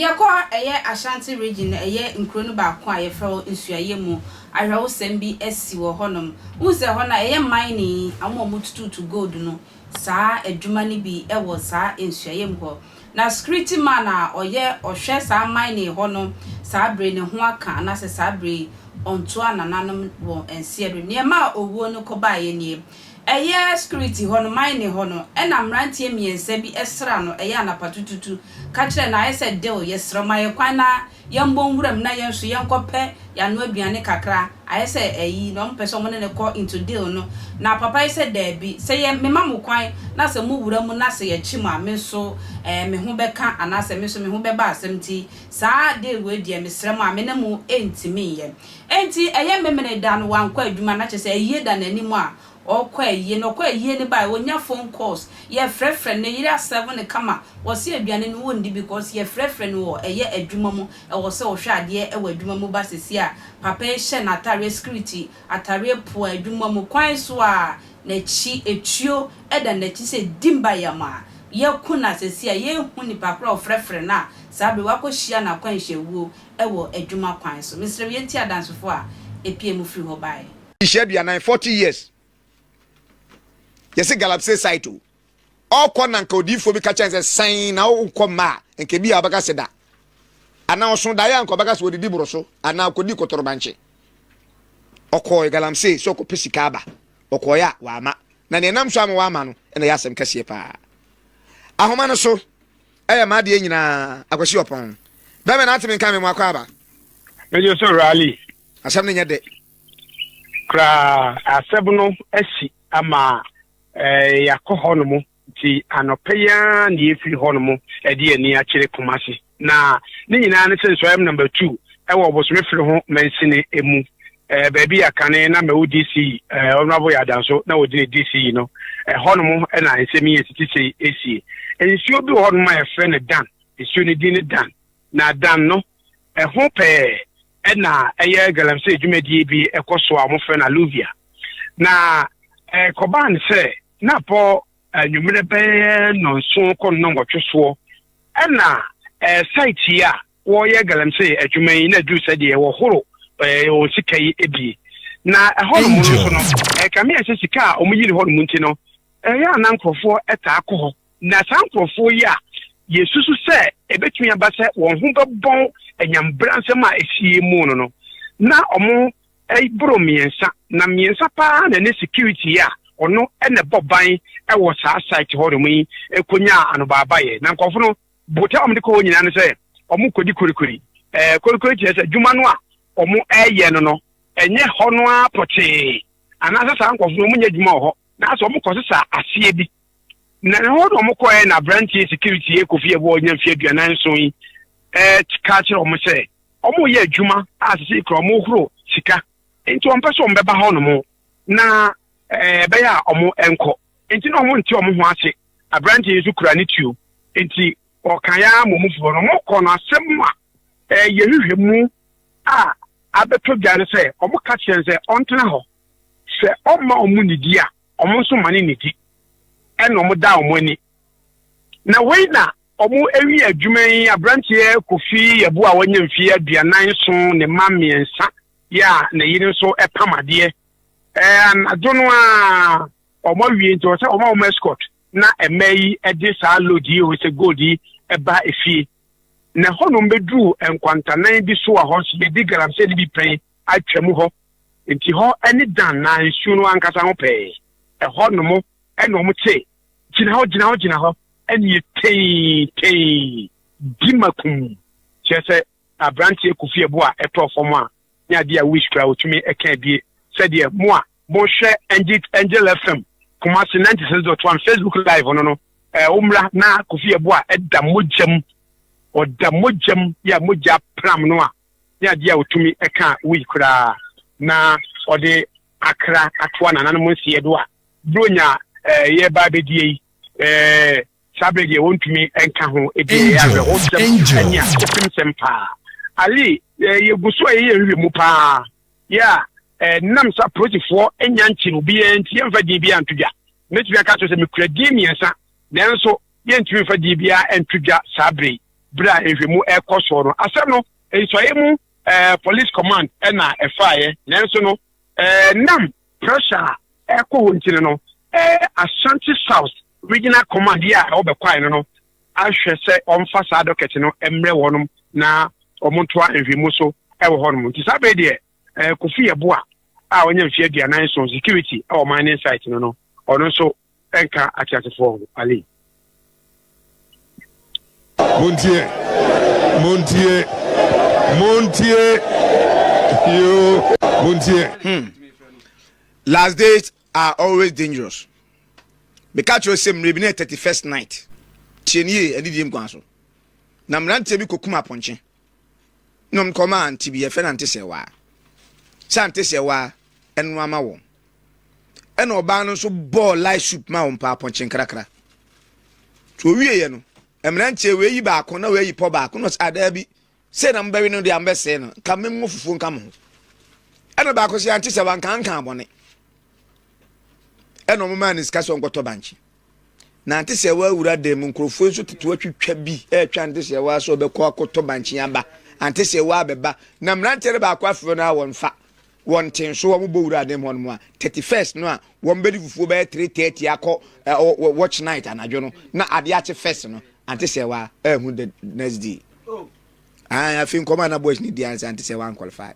Yɛkɔ a ɛyɛ Ashanti Region na ɛyɛ nkuro no baako a yɛfrɛ hɔ Nsuaeɛ mu awerɛhosɛm bi asi wɔ hɔnom. Wohu sɛ ɛhɔ no a ɛyɛ mining, wɔn a wɔtututu gold no, saa adwuma no bi wɔ saa nsuaeɛ mu hɔ. Na security man a ɔyɛ ɔhwɛ saa mining hɔ no saa bere yi ne ho aka anaasɛ saa bere yi ɔntoa nananom wɔ nseɛ do. Neɛ ɛmaa owuo no kɔbaeɛ nie. Ɛyɛ security hɔ no, mining hɔ no, ɛna mmeranteɛ mmiɛnsa bi sra no ɛyɛ anapatututu ka kyerɛɛ no ayɛ sɛ deal yɛsrɛ mo ayɛ kwan na Yɛmbɔ nwuram na yɛn nso yɛnkɔ pɛ yano aduane kakra, ayɛ sɛ ayi na ɔmo pɛ sɛ ɔmo ne no kɔ into deal no. Na papa yi sɛ daabi, sɛ yɛ me ma mo kwan na sɛ mo wura mu na sɛ yɛ kye mo a me nso ɛɛ me ho bɛka anaa sɛ me nso me ho bɛba asɛm nti saa deal wei deɛ me srɛ mo a me ne mo ntimi nyɛ. Enti ɛyɛ memene da no wankɔ adwuma na kyerɛ sɛ ayie da n'anim a Ɔkɔ ayie no ɔkɔ ayie no bae ɔnya phone calls yɛfrɛfrɛ no ne yere asɛve no kama ɔse aduane no wɔndi because yɛfrɛfrɛ no wɔ ɛyɛ adwuma mu ɛwɔ sɛ ɔhwɛ adeɛ wɔ adwuma mu ba sesie a papa yi hyɛ n'atareɛ security atareɛ poa adwuma mu kwan so a n'akyi etuo da n'akyi sɛ di mba yam a yɛku no a sesie a yɛnhu nipa koraa a ɔfrɛfrɛ no a saa bere wakɔhyia no akwanhyia wuo wɔ adwuma kwan so mesrɛ wo yɛntie adansefoɔ a ɛpiee mu firi hɔ baeɛ. Nhyia aduanan forty years yɛsɛ galapsey site o ɔkɔ na nka odiifoɔ bi ka kyɛn sɛ san na wokɔ mma a nka bi a ɔbɛka sɛ da anaa ɔso daeɛ a nka ɔbɛka sɛ ɔdidi boro so anaa ɔkɔdi kɔtɔrɔbankye ɔkɔɔ galamsey sɛ ɔkɔpɛ sika aba ɔkɔɔeɛ a waama na neɛ nam so ama waama no ɛna ɛyɛ asɛm kɛseɛ paa ahoma no so ɛyɛ maadeɛ nyinaa akwasi ɔpɔn bɛmɛ na ateme nka me mu akɔ aba ɛnyɛ sɛ rally asɛm no nyɛ dɛ koraa. Asɛm no asi ama yɛakɔ hɔnom, nti anɔpa yi ara na yɛfiri hɔnom de ani akyerɛ Kumasi. Na ne nyinaa ne sɛ nsɔam namba tu wɔ Ɔbosome Firi ho mansini mu, baabi a kane na Mɛwo DC Honourable Yadanso na ɔdi ne DC yi no, hɔnom na nsɛm yi ɛtete sei ɛsie. Nsuo bi wɔ hɔnom a yɛfrɛ no Dan, nsuo no din ne Dan, na Dan no Ɛho pɛɛ na ɛyɛ galamsey dwumadie bi kɔ so a wɔfrɛ no Alluvia. Na ɛkɔbaa no sɛ na bɔ anwummerɛ bɛyɛ nnɔnson kɔ nnɔnwɔtwe soɔ ɛna site yi a wɔyɛ galamsey adwuma yi na aduru sɛ deɛ wɔhoro wɔn sika yi ebie na ɛhɔnom no nso no ɛkame ɛsɛ sika a wɔyi ne hɔnom nti no ɛyɛ a na nkurɔfoɔ ɛtaa kɔ hɔ Na saa nkurɔfoɔ yi a yɛsusu sɛ ɛbɛtumi aba sɛ wɔn ho bɛbɔn anyame bransɛm a ɛsiee mu no no, na wɔn boro mmiɛnsa, na mmiɛnsa pa ara na ɛne security a ɔno na ɛbɔ ban wɔ saa site hɔnom yi kɔnyaa anobaabaeɛ. Na nkurɔfo no, botae a wɔde kɔ hɔ nyinaa ne sɛ wɔkɔdi korikori. Ɛɛ, korikori kyerɛ sɛ adwuma no a wɔyɛ no no, ɛnyɛ hɔ no ara pɔtee, anaasɛ saa nkurɔfo no wɔnyɛ adwuma wɔ hɔ, na sɛ wɔkɔsesa aseɛ bi. Na ɛhɔ na wɔkɔɛ na aberanteɛ security yɛ Kofi Ɛboɔ ɔnya mfeɛ aduanan nson yi ka kyerɛ wɔn sɛ wɔn yɛ adwuma a sisi kura wɔn horo sika nti wɔn pɛ sɛ wɔn bɛba hɔ nom na ɛbɛyɛ a wɔn nkɔ nti na wɔn nte wɔn ho ase aberanteɛ yi nso kura ne tuo nti ɔka ya mɔmufoɔ no wɔn kɔ no asɛm a ɛyɛ hwehwɛ mu a abɛtɔ dwa no sɛ wɔn ka kyerɛ sɛ ɔntena hɔ sɛ ɔmma wɔn nidi a Wɔn nso ma no nidi, ɛna wɔda wɔn ani. Na wei na wɔawie adwuma yi aberanteɛ Kofi Yabu a wanya mfeɛ aduanan nson ne mma mmiɛnsa yɛ a ne yere nso pam adeɛ. Ɛɛ anadwo no a wɔn awie nti wɔn sɛ wɔn a wɔn escort na mmaa yi de saa load yi wɔn sɛ gold yi ba efie. na hɔnom bɛduruu nkwantanan bi so a hɔ nso yɛde galamsey no bi pɛn atwa mu hɔ, enti hɔ ne Dan na nsuo no ankasa ho pɛɛ. Ɛhɔ nom na wɔn te, gyina hɔ, gyina hɔ, gyina hɔ, nie tei, tei, di makum, kyerɛ sɛ aberanteɛ Kofi Ɛboɔ a ɛtɔɔ fam a ne adeɛ a wish koraa ɔtumi ɛka abie sɛdeɛ mo a mohwɛ Angit Angel FM Kumasi 96.1 Facebook live no no ɛɛ omra na Kofi Ɛboa ɛda mogyam ɔda mogyam yɛ a mogya pram no a ne adeɛ a ɔtumi ɛka wish koraa na ɔde akra atoa nananom nseɛ do a buro nya ɛɛ yɛ ba abɛdie yi ɛɛ Saa bere deɛ wɔntumi nka ho ebi yɛ awerɛhosɛm ne akofemsɛm paa. Ali, eh, yɛgu so a yɛyɛ nhwehwɛ mu paa. Yɛ a, eh, nam sa polisifoɔ nya nkyere obiara nti yɛmfa din biara nto dwa. Mɛtumi aka kyerɛ sɛ mekura din mmiɛnsa, nanso yɛntumi mfa din biara nto dwa saa bere yi. Bere a nhwehwɛmu ɛrekɔ soɔ no, asɛm no nsɔeɛ mu eh, police command ɛna ɛfaeɛ, nanso no eh, nam Pressure a ɛkɔ hɔ nti no no, Ashanti South Regional Command yi a ɛwɔ Bɛkwae no no ahwɛ sɛ wɔmfa saa docket no mmrɛ wɔnom na wɔntoa nhwɛmu so wɔ hɔnom. Nti saa bere deɛ Kofi Yeboah a ɔnyɛ mfeɛ aduanan nson, security wɔ mining site no no, ɔno nso ɛnka ateasefoɔ ho ali. montie montie montie yoo montie. Hmm. last days are always dangerous meka kyerɛ sɛ mmerɛ bi ne 31st night tie nie ɛne die nkwa so na mmeranteɛ bi kɔkum apɔnkye Nom kɔm a nte bi ɛfɛ na nte sɛ waa. Sɛ ante sɛ waa, ɛno ama wɔn. Ɛna ɔbaa no nso bɔɔ light soup ma wɔn paa pɔnkye nkrakra. So owieɛ no, mmeranteɛ wei yi baako na wei yi pɔ baako na ɔsɛ adaa bi. Sɛ na mobɛwe no deɛ mobɛsee no, nka mengo fufuo nka mo ho. Ɛna baako sɛ ante sɛ wanka nka abɔne. Ɛna ɔmo maa ne sika sɛ ɔnkɔtɔ bankye. Nante sɛ wa awura dan mu nkurɔfoɔ nso tete watwitwa bi ɛretwa nante sɛ wa sɛ ɔbɛkɔ akɔtɔ bankye aba ante sɛ wa abɛba na mmeranteɛ no baako afrɛ no a wɔmfa wɔn te nso wɔn bɔ wura dan mu hɔnom a thirty first no a wɔn bɛdi fufuo bɛyɛ three thirty akɔ uh, watch night anadwo no na adeɛ akye first no ante sɛ wa ɛho the next day. ayi afei nkɔmɔ a na boys ni di ansa nti sɛ wan qualify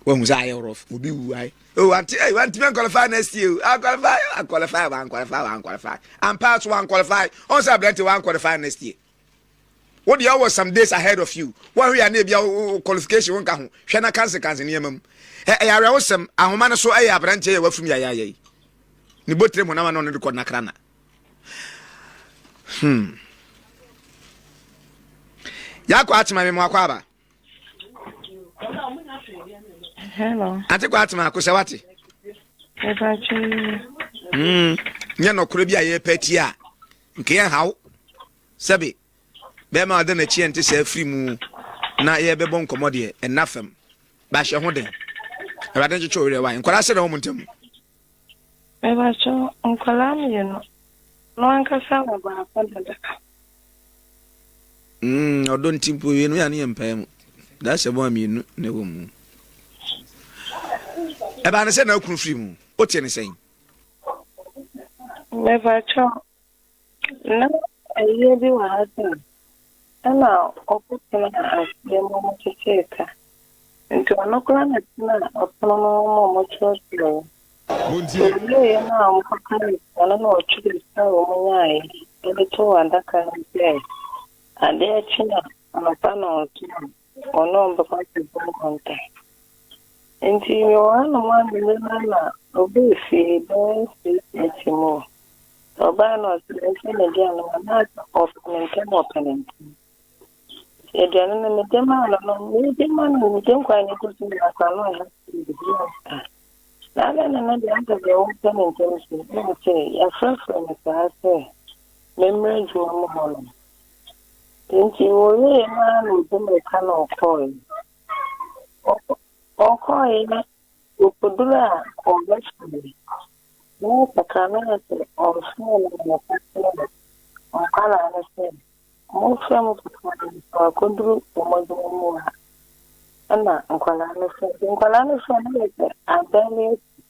wɔn sɛ ayɛ rough obi wu ayi o oh, wanti ayi wanti bɛn qualify next year o a qualify a qualify wan qualify wan qualify and pass wan qualify ɔn sɛ abirante wan qualify next year o deɛ ɔwɔ some days ahead of you wɔn ahwɛ yɛ ne ebi a qualification wɔn ka ho hwɛ na kansi kansi nneɛma mu ɛ ɛyɛ awɛwosɛm ahoma no so ɛyɛ abirante yɛ wafum yɛ ayɛ ayɛ yi ne bɔ tirim hɔn ama na ɔno de kɔ nakra na. Hmm. Yako atima mi mwako aba. Hello. Ate kwa atima ko sɛ wate. Eba chini. Hmm. Nye no kure bi a ye pati a. Nke ye hawo. Sɛbe. Bɛma ɔde n'akyi ɛnte sɛ afiri mu na yɛbɛbɔ nkɔmmɔ deɛ ɛnna fam bahyɛ ho den awurade nkyekye ɔwerɛ wae nkwadaa sɛ na wɔn ntam Mepakyɛ wo, nkwadaa mmienu no ankasa wɔ baako dada? Mm, ɔdɔ nti mpo mmienu yɛ a ne yɛ mpae mu. Daa hyɛ bɔ a mmienu na ɛwɔ mu. Ɛbaa ne sɛ na akunu firi mu. Wote ne sɛn? Mepakyɛ wo, Ná ɔyea bi wɔ ha sɛ ɛna ɔko tenaa aseɛ ma wɔkyekyee ka, enti ɔno koraa na tenaa ɔpono no ho ma wɔkyerɛkyerɛeɛ. Wɔwieeɛ no a wɔkɔkaa nsa no na ɔtwerɛɛ sika a wɔnyaeɛ de too adaka no mu sɛ adeɛ kye a anɔpa nnɔnhwere a Wɔne wɔn bɛkɔ akɔbɔ nkonta. Enti Yohane mu anwene no ara na ɔbaa fie bɛyɛ six thirty mu o. Ɔbaeɛ no ɔsɛ mɛhyɛ m'aduane ma no a ɔpɛ no ntɛm ɔpɛ no ntɛm. Nti aduane no mede maa no no mede ma no mede nkwan no gu so na aka no a na adɛn na ɛno deɛ asɛ deɛ wopɛ no ntɛm so na ɔse yɛafrɛfrɛ me saa sɛ memmrɛ adwuma mu hɔ nom. Enti wɔwiee no ara na ɔde mmirika na ɔkɔeɛ. Ɔkɔeɛ na ɔkɔduruu a ɔbɛsoeɛ. Na ɔsakraman no sɛ ɔnsoɛ no na ɔka kyerɛɛ nkwadaa no sɛ, Monsoɛ mo papa no na wakɔduru wɔn adwuma mu a. Ɛnna nkwadaa no soɛɛ. Nkwadaa no soɛɛ no yɛ sɛ adan no asi.